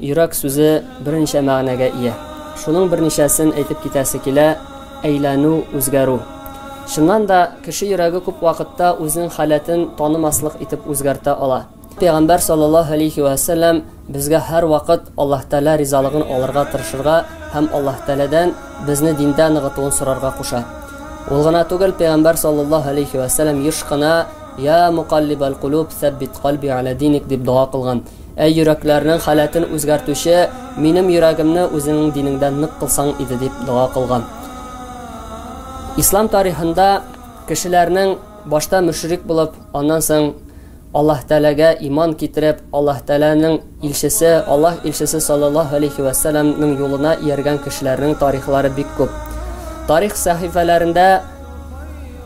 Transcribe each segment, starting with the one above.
Йөрәк сүзе берничә мәгънәгә ия. Шуның берничәсен әйтеп китәсе килә, әйләнү, үзгәрү. Чыннан да, кеше йөрәге күп вакытта үзенең халәтен танымаслык итеп үзгәртә ала. Пәйгамбәр саллаллаһу алейхи вә сәлләм безгә һәрвакыт Аллаһ Тәгалә ризалыгын алырга тырышырга һәм Аллаһ Тәгаләдән безне диндә ныгытуын сорарга куша. Ул гына түгел, Пәйгамбәр саллаллаһу алейхи вә сәлләм еш кына Я мукаллибал кулуб, сәббит кальби аля диник дип дога кылган. Ә йөрәкләрнең халәтен үзгәртүче, минем йөрәгемне үзеңнең динеңдә нык кылсаң иде дип дога кылган. Ислам тарихында кешеләрнең башта мөшрик булып, аннан соң Аллаһ Тәләгә иман китереп, Аллаһ Тәләнең илчесе, Аллаһ илчесе саллаллаһу алейхи ва салламның юлына ияргән кешеләрнең тарихлары бик күп. Тарих сәхифәләрендә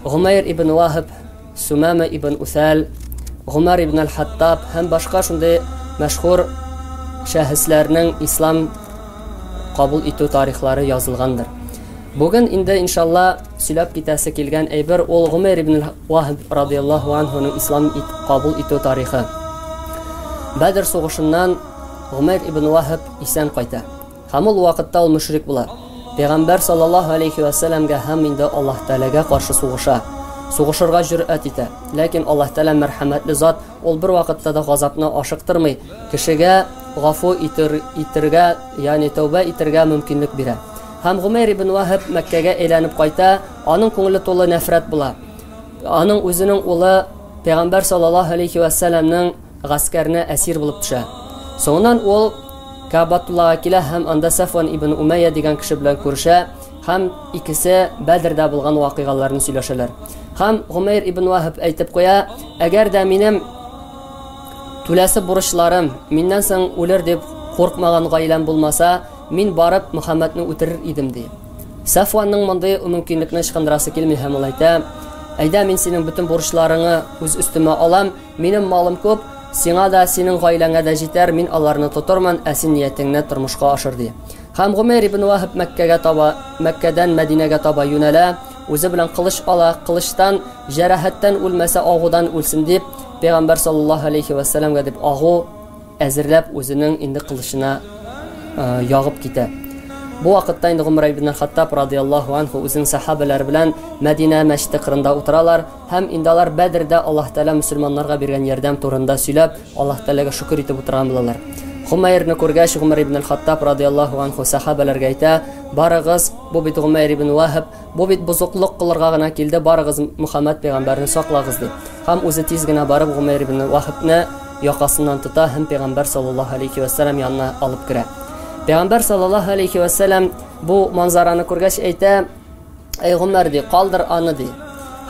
Гомәйр ибн Вахиб Сумама ибн Усәл, Гомәр ибн Аль-Хаттаб һәм башка шундый мәшһүр шәхесләрнең ислам кабул итү тарихлары язылгандыр. Бүген инде иншалла сөйләп китәсе килгән әйбер ул Гомәр ибн Вахб радияллаһу анһуның ислам ит, кабул итү тарихы. Бәдер сугышыннан Гомәр ибн Вахб исән кайта. Һәм ул вакытта ул мөшрик була. Пәйгамбәр саллаллаһу алейһи вә сәләмгә һәм инде Аллаһ Тәгаләгә каршы сугыша. Сугышырга җөрьәт итә. Ләкин Аллаһ Тәгалә мәрхәмәтле зат, ул бервакытта да газапны ашыктырмый, кешегә гафу итер, итергә, ягъни тәүбә итергә мөмкинлек бирә. Һәм Гомәйр ибн Ваһаб Мәккәгә әйләнеп кайта, аның күңеле тулы нәфрәт була. Аның үзенең улы Пәйгамбәр саллаллаһу алейһи вә сәләмнең гаскәренә әсир булып төшә. Соңыннан ул Кабатуллага килә һәм анда Сафван ибн Умәйя дигән кеше белән күрешә һәм икесе Бәдрдә булган вакыйгаларны сөйләшәләр. Һәм Гомәйр ибн Ваһаб әйтеп куя, әгәр дә минем түләсе бурычларым миннән соң үлер дип куркмаган гаиләм булмаса, мин барып Мөхәммәдне үтерер идем ди. Сафванның мондый мөмкинлекне ычкындырасы килми һәм ул әйтә, Әйдә, мин синең бөтен бурычларыңны үз өстемә алам, Минем малым күп, сиңа да, синең гаиләңә дә җитәр, мин аларны тотырмын, ә син ниятеңне тормышка ашыр, ди. Һәм Гомейр ибн Ваһаб Мәккәгә таба, Мәккәдән Мәдинәгә таба юнәлә, үзе белән кылыч ала, кылычтан, җәрәхәттән үлмәсә, агудан үлсен дип, пәйгамбәр саллаллаһу алейхи вәссәламгә дип агу, Әзерләп, үзенең инде кылычына ягып китә. Бу вакытта инде Гомар ибн әл-Хаттаб радияллаһу анһу үзенең сәхабәләре белән Мәдинә мәчете кырында утыралар һәм инде алар Бәдрдә Аллаһ Тәгалә мөселманнарга биргән ярдәм турында сөйләп, Аллаһ Тәгаләгә шөкер итеп утырган булалар. Гомайрны күргәч, Гомар ибн әл-Хаттаб радияллаһу анһу сәхабәләргә әйтә, Барыгыз, бу бит Гомайр ибн Ваһб, Бу бит бозыклык кылырга гына килде, барыгыз Мөхәммәд пәйгамбәрне саклагыз, ди. Һәм үзе тиз генә барып Гомәйр ибн Ваһбны якасыннан тота һәм пәйгамбәр саллаллаһу алейһи вә сәлам янына алып керә. Пәйгамбәр саллаллаһу алейһи вә сәлам бу манзараны күргәч әйтә, "Әй Гомәр, ди, калдыр аны", ди.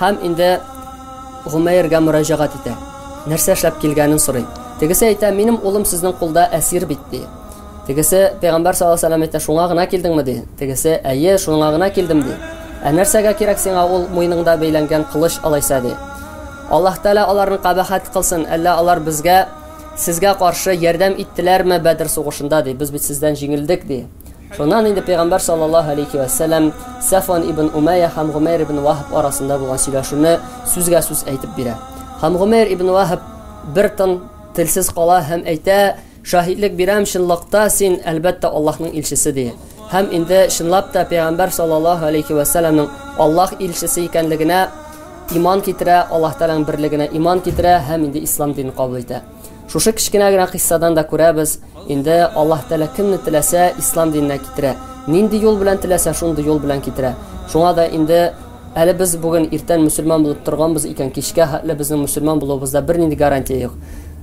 Һәм инде Гомәйргә мөрәҗәгать итә. Нәрсә эшләп килгәнен сорый. Тегесе әйтә, "Минем улым сезнең кулда әсир бит", ди. Тегесе, Пәйгамбәр саллаллаһу галәйһи ва сәлләм әйтә, шуңа гына килдеңме? ди. Тегесе, Әйе, шуңа гына килдем, ди. Ә нәрсәгә кирәк сиңа ул муеныңда бәйләнгән кылыч алайса, ди. Аллаһ Тәгалә аларны кабахәт кылсын, әллә алар безгә, сезгә каршы ярдәм иттеләрме Бәдер сугышында, ди, без бит сездән җиңелдек, ди. Шуннан инде Пәйгамбәр саллаллаһу галәйһи ва сәлләм Сәфван ибн Умәйя һәм Гомәйр ибн Ваһб арасында булган сөйләшүне сүзгә-сүз әйтеп бирә. Һәм Гомәйр ибн Ваһб бер тын, телсез кала һәм әйтә, Шаһитлек бирәм, чынлыкта син, әлбәттә, Аллаһның илчесе, ди. Һәм инде чынлап та пәйгамбәр саллаллаһу алейһи вә сәлләмнең Аллаһ илчесе икәнлегенә иман китерә, Аллаһ Тәгаләнең берлегенә иман китерә һәм инде ислам динен кабул итә. Шушы кечкенә генә кыйссадан да күрәбез, инде Аллаһ Тәгалә кемне теләсә ислам диненә китерә, нинди юл белән теләсә шундый юл белән китерә. Шуңа да инде Әле без бүген иртән мөселман булып торганбыз икән, кичкә хәтле безнең мөселман булуыбызда бернинди гарантия юк.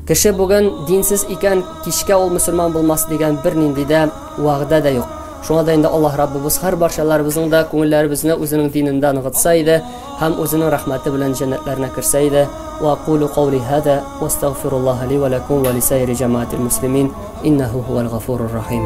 Кеше бүген динсез икән, кичкә ул мөселман булмас дигән бернинди дә вәгъдә дә юк. Шуңа да инде Аллаһ Раббыбыз һәр барчаларыбызның да күңелләребезне үзенең динендә ныгытса иде һәм үзенең рәхмәте белән җәннәтләренә керсә иде. Ва кулу каули һада ва астагфируллаһа ли ва лакум ва лисаири җәмаатил муслимин иннаһу һувәл гафурур рахим.